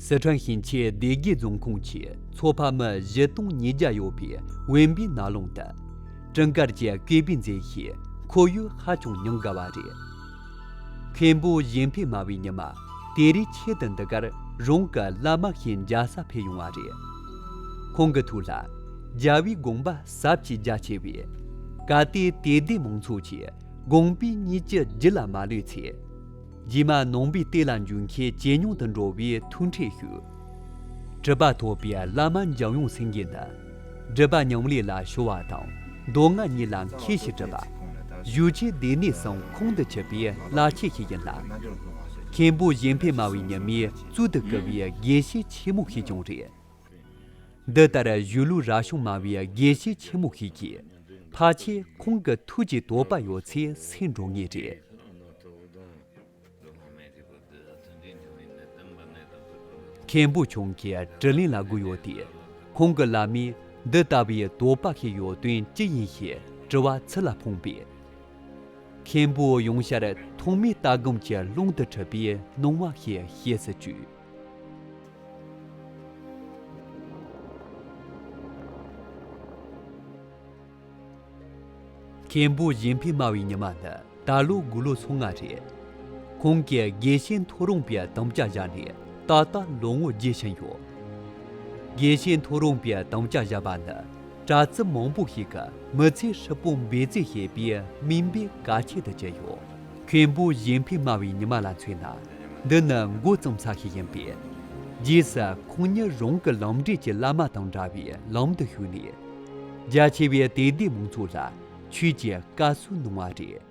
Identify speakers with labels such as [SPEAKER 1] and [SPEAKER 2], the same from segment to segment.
[SPEAKER 1] སི་ཁྲོན་ཞིང་ཆེན་སྡེ་དགེ་རྫོང་ཁོངས་ཀྱི་མཚོ་ཕ་མི་བཞི་སྟོང་ཉིས་བརྒྱ་ཡོད་པའི་དབེན་པའི་ན་རླུང་དང་སྤྲིན་དཀར་གྱི་སྐེད་པའི་མཛེས་ཤིང་ཁོར་ཡུག་ཧ་ཅང་ཉུང་དགའ་བ་རེད་མཁན་པོ་གཞན་ཕན་སྨྲ་བའི་ཉི་མ། དེ་རིང་ཁྱེད་དང་འདི་གར་རང་གི་བླ་མ་ཞིག་འཇའ་ས་ཕེབས་ཡོང་བ་རེད། ཁོང་གི་ཐུགས་ལ་རྒྱལ་བའི་དགོངས་པ་ཟབ་ཅིང་རྒྱ་ཆེ་བས། གལ་ཏེ་དད་ལྡན་མང་ཚོགས་ཀྱི་དགོངས་པའི་གཉིས་ཀྱི་རྒྱུད་ལ་མ་ལུས་ཚེ། རྗེས་མ་ནང་པའི་ལྟས་ལ་འཇུག་མཁན་ཇེ་ཉུང་དུ་འགྲོ་བའི་ཐུགས་འཕྲད་ཞུ། གྲུབ་པ་ཐོབ་པའི་བླ་མ་འཇམ་དབྱངས་སེང་གེ་འདི། སྒྲིབ་པ་མྱང་ལས་ལ་བྱོ་བ་དང་མདོ་སྔགས་གཉིས་ལ་མཁས་ཞེས་བྲིས་པ། བཞུགས་ཆའི་སྡེ་སྣོད་སྲང་ཁུང་དུ་ཆུད་པའི་བླ་ཆས་ཤིག་ཡིན་ལ། མཁན་པོ་གཞན་ཕན་སྨྲ་བའི་ཉི་མའི་གཙུག་ཏུ་བཀུར་བའི་དགེ་བཤེས་ཆེན་མོ་ཞིག་ཀྱང་རེད། འདི་ལྟར་བཞུགས་ལུགས་རྭ་གཞུང་སྨྲ་བའི་དགེ་བཤེས་ཆེན་མོ་ཞིག་གིས་ཕ་ཆེ་ཁོང་གི་ཐུགས་ཀྱི་དོགས་པ་ཡོད་ཚད་སེལ་འགྲོ་ངེས་རེད། མཁན་པོ་ཁྱུང་གིས་དྲི་ལན་ལ་བསྒུགས་ཡོད་དུས་ཁོང་གི་བླ་མས་འདི་ལྟ་བུའི་དོགས་པ་ཞིག་ཡོད་དོན་ཅི་ཡིན་ཞེས་དྲི་བ་ཚུར་ལ་འཕངས་པས། མཁན་པོས་ཡང་བཤད་ཐོག་མའི་ལྟ་སྒོམ་གྱི་ཀློང་དུ་འཁྲུལ་པའི་སྣང་བ་ཞིག་བྱེད་སྲིད་ཅུང། མཁན་པོ་གཞན་ཕན་སྨྲ་བའི་ཉི་མ་ནི་ད་ལོ་དགུང་ལོ་སོ་ལྔ་རེད། ཁོང་གིས་དགེ་བཤེས་མཐོ་རུང་པའི་དམ་བཅའ་བཞག་ནས་ད་ལྟ་ལོ་ངོ་བརྒྱད་ཕྱིན་ཡོད། དགེ་བཤེས་མཐོ་རུང་པའི་དམ་བཅའ་བཞག་པ་ནི་གྲྭ་བཙུན་མང་པོ་ཞིག་གི་མི་ཚེ་ཧྲིལ་པོ་འབད་བརྩོན་བྱེད་པའི་སྨིན་པའི་ག་ཁྱད་དུ་གྱུར་ཡོད། མཁན་པོ་གཞན་ཕན་སྨྲ་བའི་ཉི་མ་ལ་མཚོན་ན་འདི་ནི་མགོ་བརྩམས་ས་ཞིག་ཡིན་པས། རྗེས་སུ་ཁོང་ཉིད་རང་གི་ལམ་འབྲས་ཀྱི་བླ་མ་དང་འདྲ་བའི་ལམ་དུ་ཞུགས་ནས་རྒྱ་ཆེ་བའི་དད་ལྡན་མང་ཚོགས་ལ་ཆོས་ཀྱི་བཀའ་སྲོལ་གནང་བ་རེད།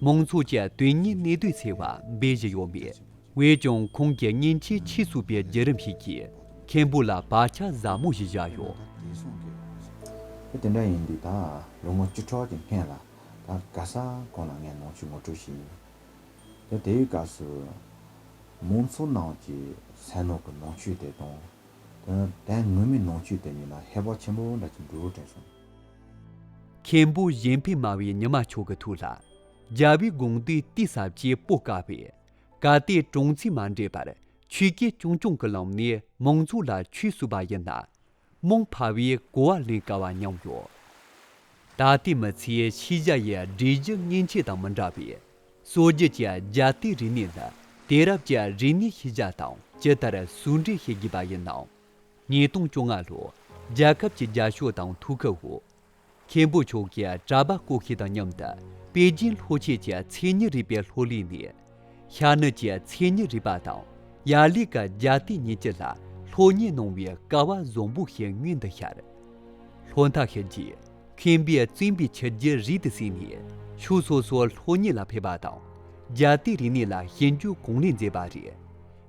[SPEAKER 1] མང་ཚོགས་ཀྱི་དོན་གཉེར་གནས་སྡོད་ཚེ་བ་འབའ་ཞིག་ཡོད་མེད་བས་ཀྱང་ཁོང་གི་སྙིང་རྗེའི་ཕྱིར་ཚུགས་པའི་བརྒྱུད་རིམ་ཞིག་གིས་མཁན་པོ་ལ་བག་ཆགས་ཟབ་མོ་ཞིག་བཞག་ཡོད།
[SPEAKER 2] དེ་འདྲ་ཡིན་དུས་ད་ལོ་ངོ་བཅུ་ཕྲག་གི་སྔས་ལ་ད་ག་ས་གང་ལ་ངས་ནང་ཆོས་ངོ་སྤྲོད་བྱས་ཡོད། དེ་དེའི་སྐབས་སུ་མང་ཚོགས་ནང་གི་ཟས་ནོར་གྱི་ནང་ཆོས་དེ་དང། དེ་ནི་དོན་དངོས་མིན་ནང་ཆོས་དེ་གཉིས་ལ་ཧེ་བག་ཆེན་པོ་འདྲ་ཅིག་འདུག་དྲན་སོང། མཁན་
[SPEAKER 1] པོ་གཞན་ཕན་སྨྲ་བའི་ཉི་མ་མཆོག་གི་ཐུགས་ལ། རྒྱལ་བའི་དགོངས་འདུས་གཏིས་ཟབ་ཀྱི་སྤོས་དཀར་བས། བཀའ་གཏེར་གྲོང་ཚོས་མ་འདྲེས་པར་ཆོས་སྐད་ཆུང་ཆུང་གི་ལམ་ནས་མང་ཚོགས་ལ་ཆོས་གསུངས་པ་ཡིན་ན། རྨོངས་འཕར་བས་གོ་བ་ལེན་དཀའ་བ་མཉམ་ཡོད། ད་ལྟའི་མི་ཚེའི་ཤེས་བྱ་ཡི་སྒྲིག་གཞི་མཉེན་ཆས་དང་མི་འདྲ་བས། སྲོལ་རྒྱུན་གྱི་རྒྱལ་གཏེར་རིག་གནས་ནི་དེང་རབས་ཀྱི་རིག་གནས་ཤེས་བྱ་དང་ཇི་ལྟར་ཟུང་འབྲེལ་བྱེད་དགོས་པ་ཡིན་ནམ། ཉིས་སྟོང་བཅོ་ལྔ་ལོར་རྒྱལ་ཁབ་ཀྱི་རྒྱ་ཤོག་དང་ཐུགས་ཁུར་འོག་མཁན་པོ་མཆོག་གིས་གྲྭ་པ་བསྐོ་ཤེས་དང་མཉམ་དུ་པེ་ཅིན་ལྷོ་ཆས་ཀྱི་མཚན་ཉིད་རིག་པའི་ལྷོ་གླིང་ནས་ཤར་ནུབ་ཀྱི་མཚན་ཉིད་རིག་པ་དང་ཡར་ལུས་ཀྱི་རྒྱ་སྟེ་གཉིས་ཀྱི་ལྷ་ལྷོ་གཉིས་སྣང་བའི་ཀ་བ་བཟང་པོ་ཞིག་ངའི་འདི་ཤར་ལྷོ་མཐའ་ཤར་རྗེས་མཁན་པོས་བཙུན་པའི་ཕྱི་རྒྱུད་རིགས་དུ་བསྲིངས་ནས་ཕྱོགས་སོ་སོར་ལྷོ་གཉིས་ལ་ཕེབས་པ་དང་རྒྱ་སྟེ་རིག་གནས་ལ་ཞིབ་འཇུག་གང་ལེགས་མཛད་པ་རེད།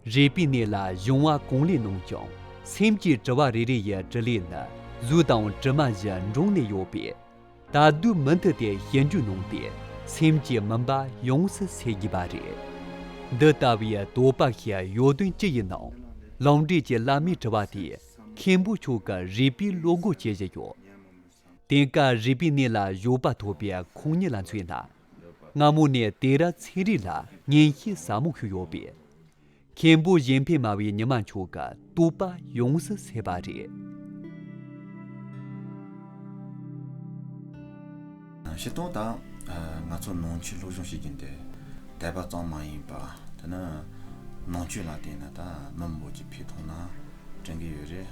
[SPEAKER 1] རས་པའི་གནས་ལ་གཞུང་བ་གང་ལས་སྣང་ཀྱང་སེམས་ཀྱི་དྲི་བ་རེ་རེ་ཡི་དྲི་ལས་ནི་གཟུགས་དང་དྲི་མ་བཞི་འབྲུང་ནས་ཡོད་པས། ད་གདོད་མུ་མཐུད་དེ་ཞེན་འཇོན་སྣང་སྟེ་སེམས་ཀྱི་མུན་པ་ཡོངས་སུ་སེལ་དགོས་པ་རེད། འདི་ལྟ་བུའི་དོགས་པ་ཞིག་ཡོད་དོན་ཅི་ཡིན་ནམ། ལམ་འབྲས་ཀྱི་བླ་མའི་དྲི་བ་དེས་མཁན་པོ་མཆོག་གི་རས་པའི་བློ་སྒོ་ཇི་བཞིན་ཡོད་དེ། དེང་སྐབས་རས་པའི་གནས་ལ་བཞུགས་པ་ཐོབ་པའི་ཁོང་ཉིད་ལ་མཚོན་ན། སྔ་མོ་ནས་དེ་ར་ཚེ་རིང་ལ་ངན་ཤེས་ཟབ་མོ་ཞིག་ཡོད་པས། མཁན་པོ་གཞན་ཕན་སྨྲ་བའི་ཉི་མ་མཆོག་གི་བསྟོད་པ་ཡོངས་སུ་ཟད་པ་རེད།
[SPEAKER 2] ཤེས་རྟོགས་དང། ང་ཚོ་ནང་ཆོས་སློབ་སྦྱོང་བྱེད་ཀྱིན་དེ་དད་པ་གཙང་མ་ཡིན་པ། དེ་ནི་ནང་ཆོས་ལ་བརྟེན་ནས་ད་མི་འབོར་གྱི་འཕེལ་གཏོང་ནང་དྲན་གྱི་ཡོད་རེད།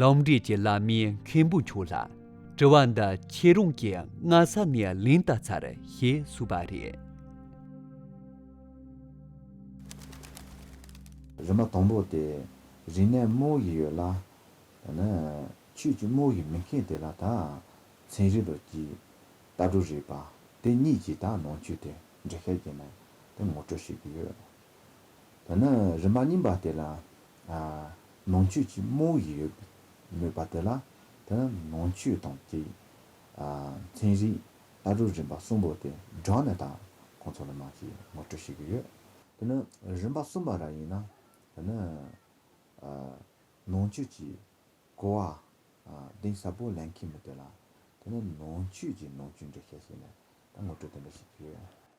[SPEAKER 1] ལམ་འབྲས་ཀྱི་བླ་མའི་མཁན་པོ་མཆོག་ལ་དྲི་བ་འདི་ཁྱེད་རང་གིས་སྔ་ས་ནས་ལན་བཏབ་ཚར་ཞེས་གསུངས་པ་རེད།
[SPEAKER 2] རི་མོ་དང་པོ་དེ་རིག་གནས་རྨོ་བཞིན་ཡོད་ལ། ད་ནི་ཆོས་ཀྱི་རྨོ་བཞིན་མི་མཁན་དེ་ལ་དག་མཚན་རིག་ལོ་རྒྱུས་ལྟ་གྲུབ་རིག་པ་དེ་གཉིས་ཀྱི་དག་ནང་ཆོས་དེ་འདྲི་ཤེས་ཀྱི་མེད་དེ་ངོ་སྤྲོད་བྱེད་ཀྱི་ཡོད། ད་ནི་རི་མ་རྙིང་པ་དེ་ལ། ནང་ཆོས་ཀྱི་རྨོ་བོ་ཞིག་ཡོད་མོད་པ་དེ་ལ། ད་ནི་ནང་ཆོས་དང་བཅས་ཡིན། ཚན་རིག་ཨ་རུ་རིམ་པ་གསུམ་པོ་དེ་སྦྲགས་ནས་ད་ཁོང་ཚོ་ལ་མ་ཅིག་ངོ་སྤྲོད་བྱེད་ཀྱི་ཡོད། དེ་ནི་རིམ་པ་གསུམ་པ་ར་ཡིན་ན། ད་ནི། ནང་ཆོས་ཀྱི་གོ་བ་གདེང་ཟབ་པོ་ལེན་མཁན་མི་དེ་ལ། ད་ནི་ནང་ཆོས་ཀྱི་ནང་ཆོས་འབྲི་མཁན་ཞིག་ནས་ད་ངོ་སྤྲོད་དེ་འདྲ་བྱེད་ཀྱི་ཡོད།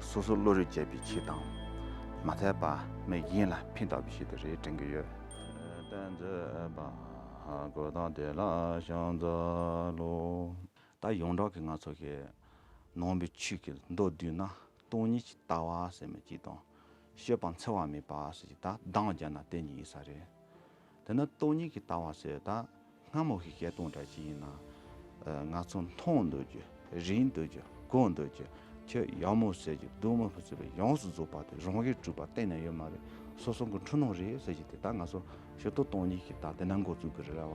[SPEAKER 2] སོ་སོ་བློ་རིག་བཅས་པའི་ཆེད་དང། མ་མཐའི་པདྨའི་དབྱིངས་ལ་ཕན་ཐོགས་པའི་ཞིག་ཏུ་རེ་དྲན་གྱི་ཡོད། བསྟན་བཅོས་པ། གོས་དང་དེ་ལ་བྱང་རྩལ་ལོ། ད་ཡོངས་གྲགས་ཀྱི་ང་ཚོ་ཞེས། ནོངས་པའི་ཆོས་ཀྱི་མདོ་བསྡུས་ན། སྟོང་ཉིད་ཀྱི་ལྟ་བ་ཟེར་མི་གཅིག་དང། ཤོད་པ་འཚེ་བ་མེད་པ་ཟེར་གཅིག་དག་གདངས་སྦྱར་ན་དེ་གཉིས་ཡིན་ས་རེད། དེ་ནི་སྟོང་ཉིད་ཀྱི་ལྟ་བ་ཟེར་བ་དང་སྔ་མོ་གི་སྐད་སྟོང་འདྲ་ཞིག་ཡིན། ང་ཚོ་མཐོང་འདོད་རྒྱུ་རིག་འདོད་རྒྱུ་གོ་འདོད་རྒྱུ་ཁྱོད་ཡག་མོ་ཟེར་རྒྱུ་སྡུག་མོ་ཟེར་བའི་ཡོངས་སུ་རྫོགས་པ་དེ་རང་གིས་གྲུབ་པ་གཏན་ནས་ཡོད་མ་རེད་སོ་སོ་གི་འཁྲུལ་སྣང་རེད་ཟེར་གྱི་དེ་དག་ང་ཚོ་ཞིབ་ཏུ་སྟོང་ཉིད་ཀྱི་ལྟ་དེ་ནང་འགོ་འཛུགས་ཀྱི་རེད་བ།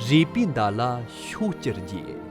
[SPEAKER 1] རས་པའི་མདའ་ལ་ཤོག་སྐྱར་རྒྱས།